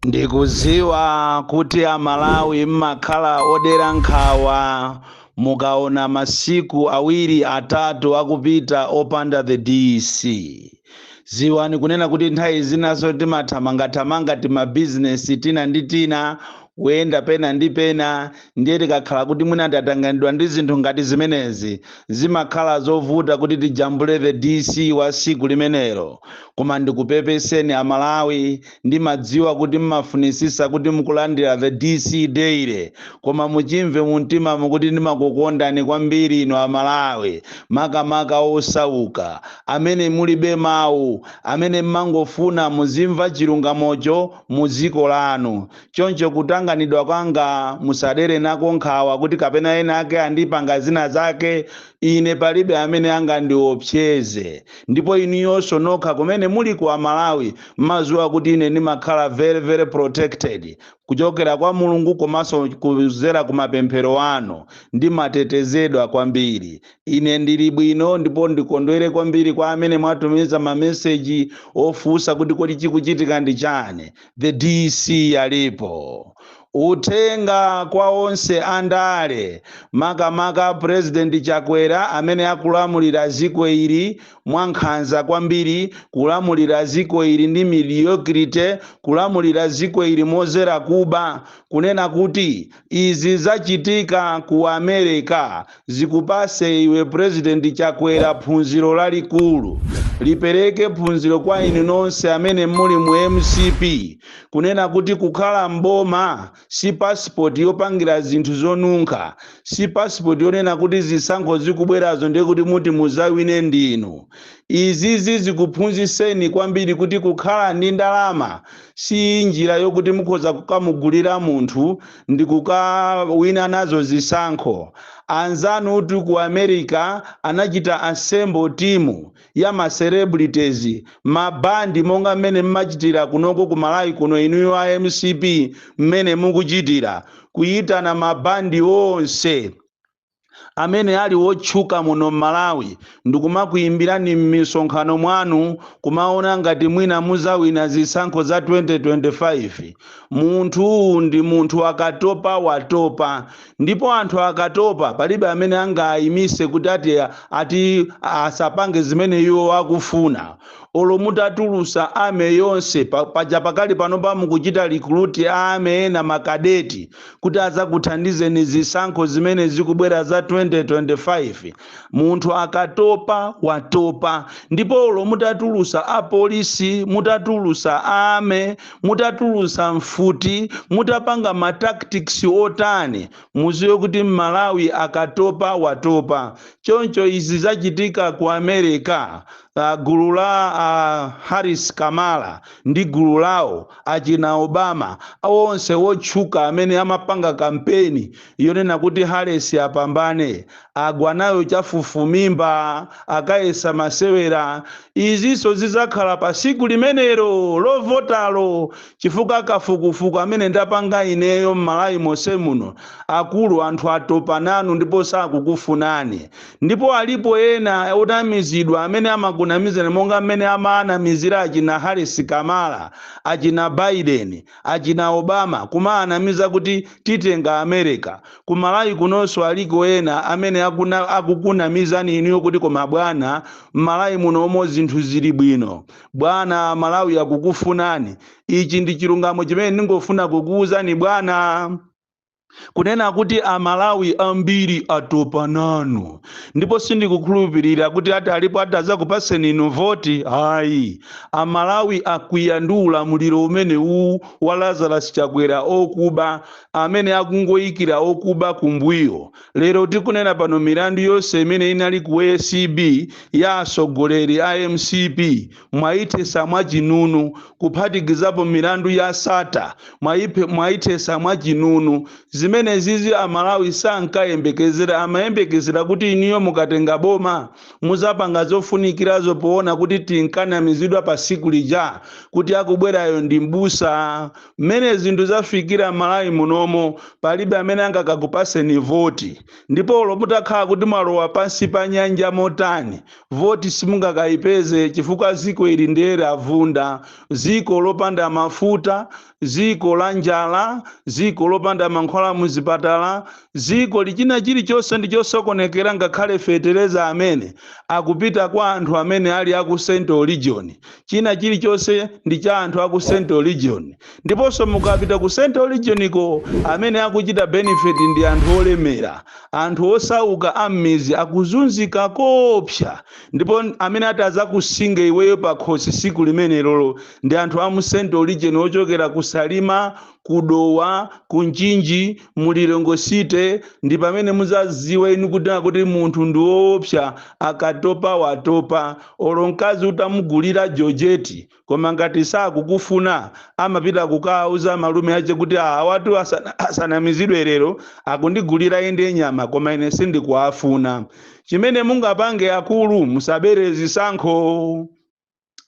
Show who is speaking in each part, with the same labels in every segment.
Speaker 1: Ndikuziwa kuti a Malawi mmakhala odera nkhawa mukaona masiku awiri atatu akupita opanda the DC. Ziwani kunena kuti nthawi zinanso timathamangathamanga tima bizinesi tina ndi tina, kuyenda pena ndi pena, ndiye tikakhala kuti mwina tatanganidwa ndi zinthu ngati zimenezi zimakhala zovuta kuti tijambule the dc wa siku limenelo koma ndikupepeseni amalawi ndimadziwa kuti mmafunisisa kuti mukulandira the dc daily koma muchimve mumtima muno kuti ndimakukondani kwambiri inu amalawi makamaka osauka amene mulibe mawu amene mmangofuna muzimva chilungamocho mu dziko lanu Choncho kutanganidwa kwanga, musadere nako nkhawa kuti kapena ena ake andipanga zina zake, ine palibe amene angandiopseze. Ndipo inuyonso nokha kumene muliko Amalawi mmaziwa kuti ine ndimakhala very very protected kuchokera kwa Mulungu komanso kuzera ku mapemphero anu. Ndimatetezedwa kwambiri. Ine ndili bwino ndipo ndikondwere kwambiri kwa amene mwatumiza ma message ofunsa kuti kodi chikuchitika ndi chani. The DC alipo. Uthenga kwa onse andale makamaka President Chakwera amene akulamulira ziko ili mwa nkhanza kwambiri, kulamulira ziko ili ndi mediocrity, kulamulira ziko ili mozera kuba, kunena kuti Izi zachitika ku America zikupase iwe President Chakwera phunziro lalikulu. Lipereke phunziro kwa inu nonse amene muli mu mcp kunena kuti kukhala m'boma si passport yopangira zinthu zonunkha, si passport yonena kuti zisankho zikubwerazo ndiye kuti muti muzawine ndinu. Izizi zikuphunziseni kwambiri kuti kukhala ndi ndalama si njira yokuti mukhoza kukamugulira munthu ndi kukawina nazo zisankho anzanutu ku america anachita assemble team ya ma celebrities mabandi monga mmene mmachitira kunoko ku malawi kuno inuyo a mcp mmene mukuchitira kuyitana mabandi onse amene ali wotchuka muno m'Malawi ndikumakuyimbirani m'misonkhano mwanu kumaona ngati mwina muzawina zisankho za 2025. Munthu ndi munthu akatopa watopa ndipo anthu akatopa palibe amene angaayimise kuti ati ati asapange zimene iwo akufuna. Olo mutatulusa army yonse paja pakali panopa mukuchita recruit army ena makadeti, kuti adzakuthandizeni zisankho zimene zikubwera za 2025 munthu akatopa watopa ndipo olo mutatulusa apolisi mutatulusa army mutatulusa mfuti mutapanga ma tactics otani muziwe kuti mmalawi akatopa watopa choncho izi zachitika ku america Uh, gulu la uh, Harris Kamala ndi gulu lawo achina Obama onse wotchuka amene amapanga kampeni yonena kuti Harris apambane agwa nayo chafufumimba akayesa masewera. Izinso zidzakhala pa siku limenelo lovotalo, chifukwa kafukufuku amene ndapanga ineyo m'Malawi monse muno, akulu anthu atopa nanu ndipo sakukufunani. Ndipo alipo ena onamizidwa amene amakunamizani monga mmene amaanamizira achina Harris Kamala, achina Biden, achina Obama, kumaanamiza kuti titenga America. Ku Malawi kunonso aliko ena amene akukunamizani inuyo kuti koma bwana, m'Malawi munomo zinthu zili bwino. Bwana, a Malawi akukufunani. Ichi ndi chilungamo chimene ndingofuna kukuuzani bwana. kunena kuti amalawi ambiri atopa nanu ndipo sindikukhulupirira kuti atalipo atazakupaseni inu voti ayi amalawi akwiya ndi ulamuliro umene uwu wa lazarus chakwera okuba amene akungoyikira okuba kumbuyo lero tikunena pano milandu yonse imene inali ku acb ya atsogoleri a mcp mwaithesa mwa chinunu kuphatikizapo milandu ya Sattar mwaithesa mwa chinunu zimenezizi amalawi sankayembekezera amayembekezera kuti inuyo mukatenga boma muzapanga zofunikirazo poona kuti tinkanamizidwa pa siku lija kuti akubwerayo ndi mbusa mmene zinthu zafikira mmalawi munomo palibe amene angakakupaseni voti ndipo olo mutakhala kuti mwalowa pansi pa nyanja motani voti simungakayipeze chifukwa ziko ili ndiye lavunda ziko lopanda mafuta ziko la njala ziko lopanda mankhwala muzipatala ziko loti china chilichonse ndi chosokonekera ngakhale fetereza amene akupita kwa anthu amene ali aku central region China chilichonse ndi cha anthu a ku Central Region. Ndiponso mukapita ku Central Region ko, amene akuchita benefit ndi anthu olemera. Anthu osauka a m'midzi akuzunzika koopsa. Ndipo amene atadzakusinga iweyo pakhosi tsiku limenelolo ndi anthu a mu Central Region ochokera ku Salima, ku dowa ku mchinji mu lilongwe city ndi pamene muzaziwa inu kuti nakuti munthu ndi woopsa akatopa watopa olo mkazi utamugulira jojeti koma ngati sakukufuna amapita kukauza malume ache kuti awatu asanamizidwe lero akundigulira inde nyama koma ine sindikuwafuna chimene mungapange akulu musabere zisankho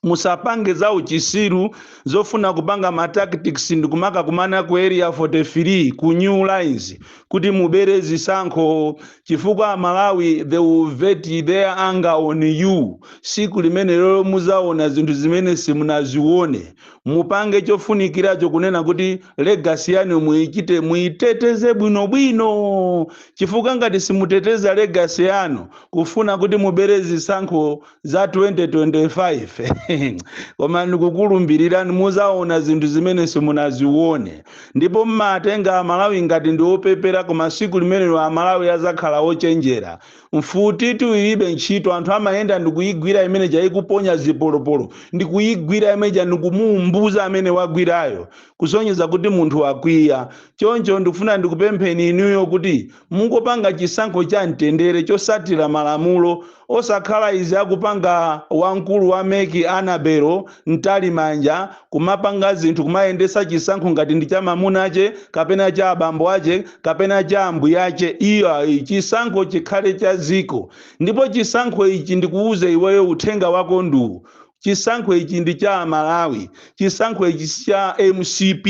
Speaker 1: musapange za uchisiru zofuna kupanga ma tactics ndikumakakumana ku area 43 ku new lines kuti mubere zisankho chifukwa amalawi they will vent their anger on you siku limenelolo muzaona zinthu zimene simunazione mupange chofunikiracho kunena kuti legasi yanu muichite muiteteze bwinobwino chifukwa ngati simuteteza legasi yanu kufuna kuti mubere zisankho za 2025 koma ndikukulumbirirani muzaona zinthu zimene simunazione ndipo mmatenga amalawi ngati ndi opepera koma siku limenelo amalawi azakhala ochenjera mfutitu ibe ntchito anthu amayenda ndikuyigwira imeneija ikuponya zipolopolo ndikuyigwira imeneija ndikumuumbuza amene wagwirayo kusonyeza kuti munthu wakwiya choncho ndikufuna ndikupempheni inuyo kuti mungopanga chisankho cha mtendere chosatira malamulo osakhala izi akupanga wamkulu wa meki anabelo mtalimanja kumapanga zinthu kumayendesa chisankho ngati ndi cha mamuna ache kapena cha abambo ache kapena cha ambuya ache iyayi chisankho chikhale cha ziko ndipo chisankho ichi ndikuuze iweyo uthenga wako ndi uwu chisankho ichi ndi cha amalawi chisankho ichi si cha mcp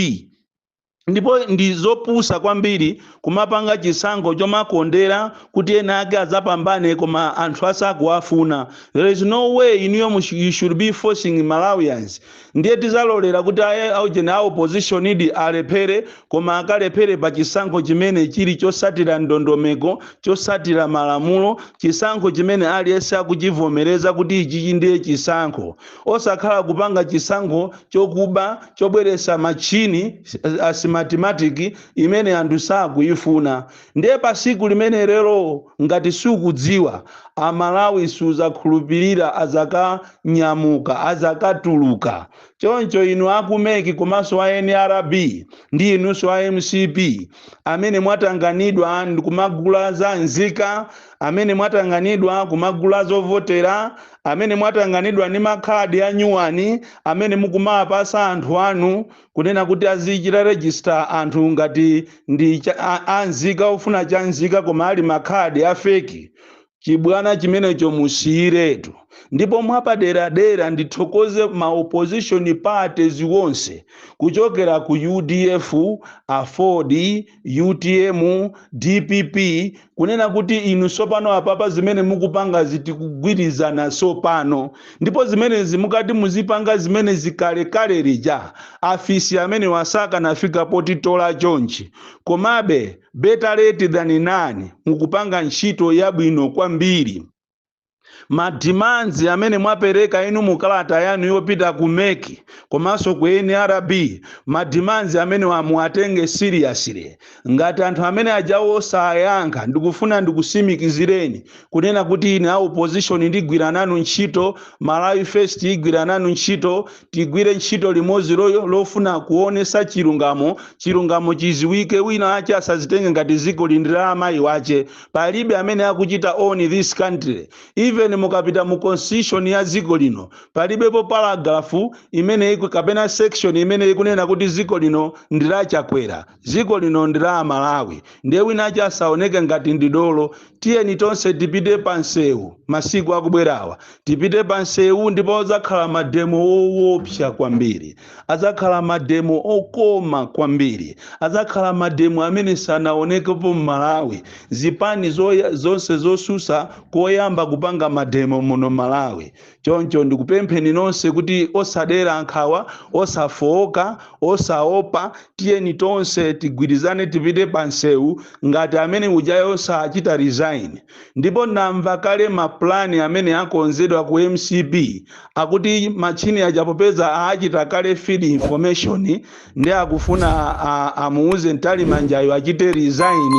Speaker 1: ndipo ndi zopusa kwambiri kumapanga chisankho chomakondera kuti ena ake azapambane koma anthu asakuwafuna there is no way inuyo mush- you should be forcing malawians ndiye tizalolera kuti aye aujeni a opposition-di alephere koma akalephere pa chisankho chimene chili chosatira ndondomeko chosatira malamulo chisankho chimene aliyense akuchivomereza kuti ichichi ndiye chisankho osakhala kupanga chisankho chokuba chobweresa matchini a smartmatic imene anthu sakuyifuna ndiye pasiku limenelolo ngati sukudziwa amalawi suzakhulupilira azakanyamuka azakatuluka choncho inu aku mec komanso a nrb ndi inunso a mcp amene mwatanganidwa ndikumagula za nzika amene mwatanganidwa kumagula zovotera, amene mwatanganidwa ndi makhadi anyuwani amene mukumaapasa anthu anu kunena kuti azichita register anthu ngati ndi cha, a, a nzika ofuna cha nzika koma ali makhadi a fake chibwana chimenecho musiyiretu ndipo mwapaderadera ndithokoze ma opposition parties onse kuchokera ku udf aford utm dpp kunena kuti inu sopano apapa zimene mukupangazi tikugwirizana nazo pano ndipo zimenezi mukanati muzipanga zimenezi kalekale lija afisi amenewa sakanafika potitola chonchi komabe better late than none mukupanga ntchito yabwino kwambiri ma demands amene mwapereka inu mu kalata yanu yopita ku mec komanso ku nrb ma demands amenewa muwatenge seriously ngati anthu ameneajawo sayankha ndikufuna ndikusimikizireni kunena kuti ine a opposition ndigwira nanu ntchito malawi first igwira nanu ntchito tigwire ntchito limodzi lo- lofuna kuonesa chilungamo chilungamo chiziwike wina ache asazitenge ngati zikoli ndi la amayi wache palibe amene akuchita own this country even mukapita mu constitution ya dziko lino palibepo paragraph imene iku, kapena section imene ikunena kuti dziko lino ndi la chakwera dziko lino ndi la amalawi ndiye winache asaoneke ngati ndi dolo tiyeni tonse tipite pa msewu masiku akubwerawa tipite pa msewu ndipo adzakhala mademo woopsa kwambiri Adzakhala mademo okoma kwambiri. Adzakhala mademo amene sanaonekepo m'Malawi. Zipani zoya, zonse zosusa koyamba kupanga mademo muno Malawi. Choncho ndikupempheni nonse kuti osadera nkhawa, osafooka, osaopa, tiyeni tonse tigwirizane tipite pansewu ngati ameneujayo sachita resign. Ndipo namva kale ma plan amene akonzedwa ku mcp akuti matchini aja popeza achita kale feed information nde akufuna a amuuze Mtalimanjayo achite resign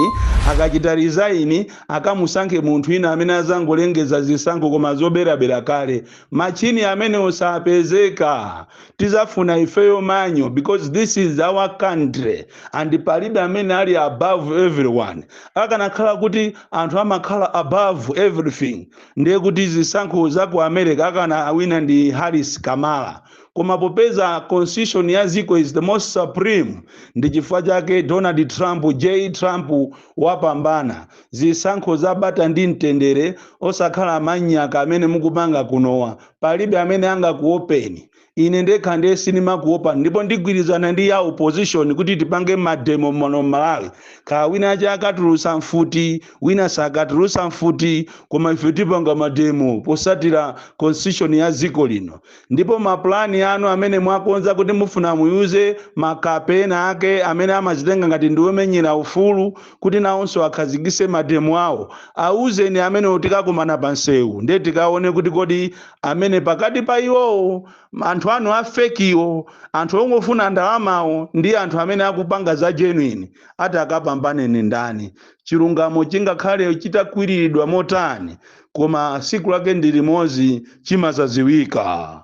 Speaker 1: akachita resign akamusankhe munthu wina amene azangolengeza zisankho koma zoberabera kale matchini amenewo sapezeka tizafuna ifeyo manual because this is our country and palibe amene ali above everyone akanakhala kuti anthu amakhala above everything ndiye kuti zisankho za ku america akanawina ndi harris kamala koma popeza constitution ya ziko is the most supreme ndi chifukwa chake donald trump j trump wapambana zisankho za bata ndi mtendere osakhala manyaka amene mukupanga kunowa palibe amene angakuopeni ine ndekha ndiye sindimakuopani ndipo ndigwirizana ndi ya opposition kuti tipange mademo muno malawi kaya wina wake akatulutsa mfuti wina sakatulutsa mfuti koma ife tipanga mademo posatira constitution ya dziko lino ndipo mapulani anu amene mwakonza kuti mufuna muyuze makape ena ake amene amazitenga ngati ndiwomenyera ufulu kuti nawonso akhazikise mademo awo awuzeni amenewo tikakumana pa nsewu ndiye tikaone kuti kodi amene pakati pa iwowo anthu anu a fekiwo anthu ongofuna ndalamawo ndi anthu amene akupanga za genuine atakapambane ndi ndani chilungamo chingakhale chitakwiriridwa motani koma siku lake ndi limodzi chimazaziwika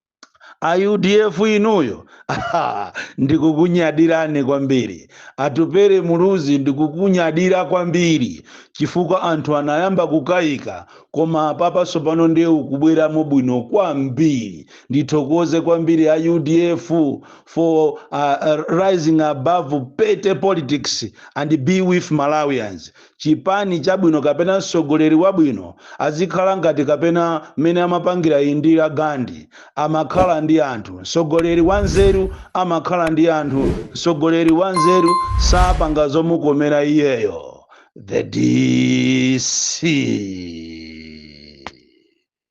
Speaker 1: a udf inuyo ndikukunyadirani kwambiri atupere muluzi ndikukunyadira kwambiri chifukwa anthu anayamba kukayika koma apapa tsopano ndiye mukubweramo bwino kwambiri ndithokoze kwambiri a udf for rising above petty politics and be with malawians chipani chabwino kapena mtsogoleri wabwino azikhala ngati kapena mmene amapangira Indira Gandhi, amakhala ndi anthu. Mtsogoleri wanzeru amakhala ndi anthu, mtsogoleri wanzeru sapanga zomukomera iyeyo. The DC.